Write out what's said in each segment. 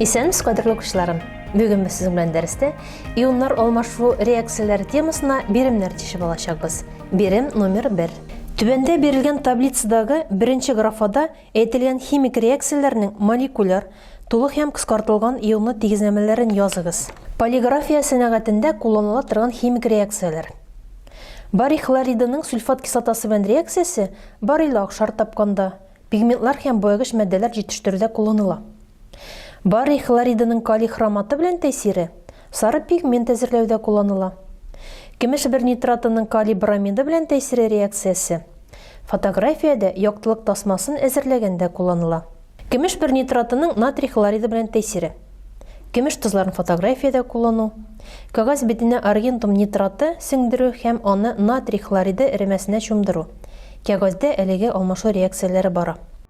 Исәнмесез, кадерле укучыларым! Бүген без сезнең белән дәрестә ионнар алмашу реакцияләре темасына биремнәр тишеп алачакбыз. Бирем номер 1. Түбәндә бирелгән таблицадагы беренче графада Әйтелгән химик реакцияләрнең молекуляр, тулы һәм кыскартылган ионлы тигезләмәләрен языгыз. Полиграфия сәнәгатендә кулланыла торган химик реакцияләр. Барий хлоридының сульфат кислотасы белән реакциясе барийлы акшар тапканда, пигментлар һәм боягыч матдәләр җитештерүдә кулланыла. Барий хлоридының калий хроматы белән тәэсире Сары пигмент әзерләүдә кулланыла. Көмеш бер нитратының калий бромиды белән тәэсире реакциясе. Фотографиядә яктылык тасмасын әзерләгәндә кулланыла. Көмеш бер нитратының натрий хлориды белән тәэсире. Көмеш тозларын фотографиядә куллану. Кәгазь битенә аргентум нитраты сеңдерү һәм аны натрий хлориды эремәсенә чумдыру. Кәгазьдә әлеге алмашу реакцияләре бара.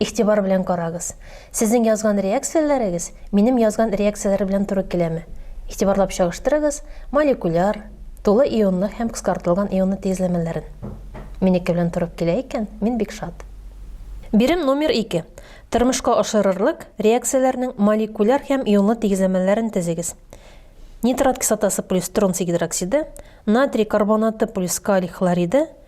Игътибар белән карагыз. Сезнең язган реакцияләрегез минем язган реакцияләр белән туры киләме? Игътибарлап чагыштырыгыз молекуляр, тулы ионлы һәм кыскартылган ионлы тигезләмәләрен. Минеке белән торып килә икән, мин бик шат. Бирем номер 2. Тормышка ашырырлык реакцияләрнең молекуляр һәм ионлы тигезләмәләрен тезегез. Нитрат кислотасы плюс тронций гидроксиды, натрий карбонаты плюс калий хлориды,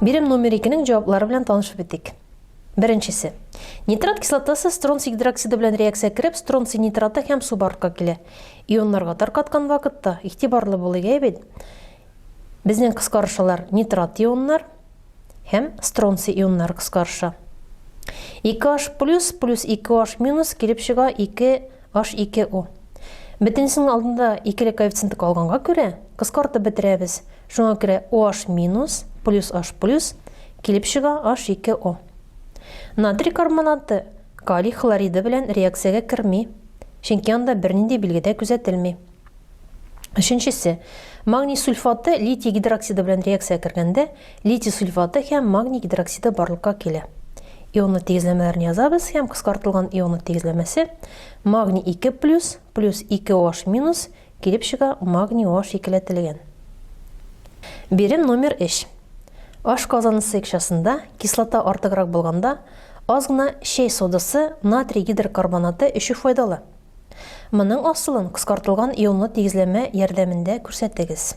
Бирем номер икенең җаваплары белән танышып үтик. Беренчесе. Нитрат кислотасы стронций гидроксиды белән реакция кереп, стронций нитраты һәм су барлыкка килә. Ионнарга таркаткан вакытта игътибарлы булыйк, әйе бит? Безнең кыскарышалар нитрат ионнар һәм стронций ионнары кыскарыша. 2H плюс плюс 2H минус килеп чыга 2H2O. Бөтенесенең алдында икеле коэффициенты калганга күрә, кыскартып бетерәбез. Шуңа күрә OH минус плюс H плюс килеп чыга H2O. Натрий карбонаты калий хлориды белән реакциягә керми, чөнки анда бернинди билге дә күзәтелми. Өченчесе, магний сульфаты литий гидроксиды белән реакциягә кергәндә, литий сульфаты һәм магний гидроксиды барлыкка килә. Ионлы тигезләмәләрен язабыз һәм кыскартылган ионлы тигезләмәсе магний 2 плюс плюс 2 OH минус Килеп чыга, магний аш икеләтелгән. Бирем номер өч. Аш казанасы икчасында кислота артыграк булганда, аз гына чәй содасы, натрий гидрокарбонаты эчү файдалы. Моның асылын кыскартылган ионлы тигезләмә ярдәмендә күрсәтегез.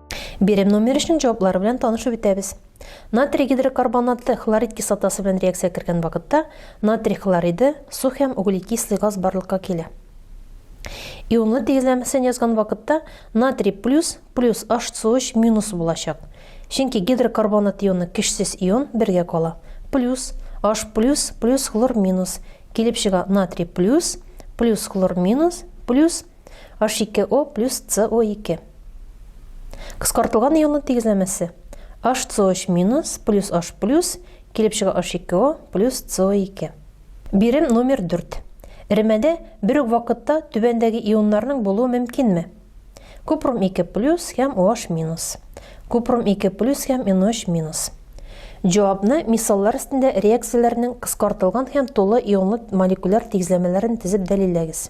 Бирем номер өчен җаваплары белән танышып үтәбез. Натрий гидрокарбонаты хлорид кислотасы белән реакция кергән вакытта натрий хлориды, су һәм углекислый газ барлыкка килә. Ионлы тигезләмәсен язган вакытта натрий плюс плюс HCOH минус булачак. Чөнки гидрокарбонат ионы көчсез ион бергә кала. Плюс H плюс плюс хлор минус килеп чыга натрий плюс плюс хлор минус плюс H2O плюс CO2. Кыскартылган ионның тигезләмәсе. HCOH минус плюс H плюс килеп чыга H2O плюс CO2. Бирем номер 4. Эремәдә бер үк вакытта түбәндәге ионнарның булуы мөмкинме? Купрум 2 плюс һәм OH минус. Купрум 2 плюс һәм NOH минус. Җавапны мисаллар өстендә реакцияләрнең кыскартылган һәм тулы ионлы молекуляр тигезләмәләрен тезеп дәлилләгез.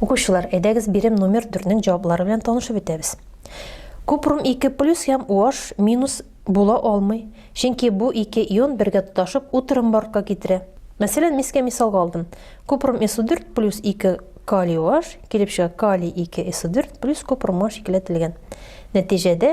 Укучылар, әйдәгез бирем номер 4-нең җаваплары белән танышып бетәбез. Купрум 2 плюс һәм OH минус була алмый, чөнки бу ике ион бергә тоташып утрым бортка китерә. Мәсәлән, мискә мисалга алдым. Купрум СО4 плюс 2 калий OH килеп чыга калий 2 СО4 плюс купрум OH икеләтелгән. Нәтиҗәдә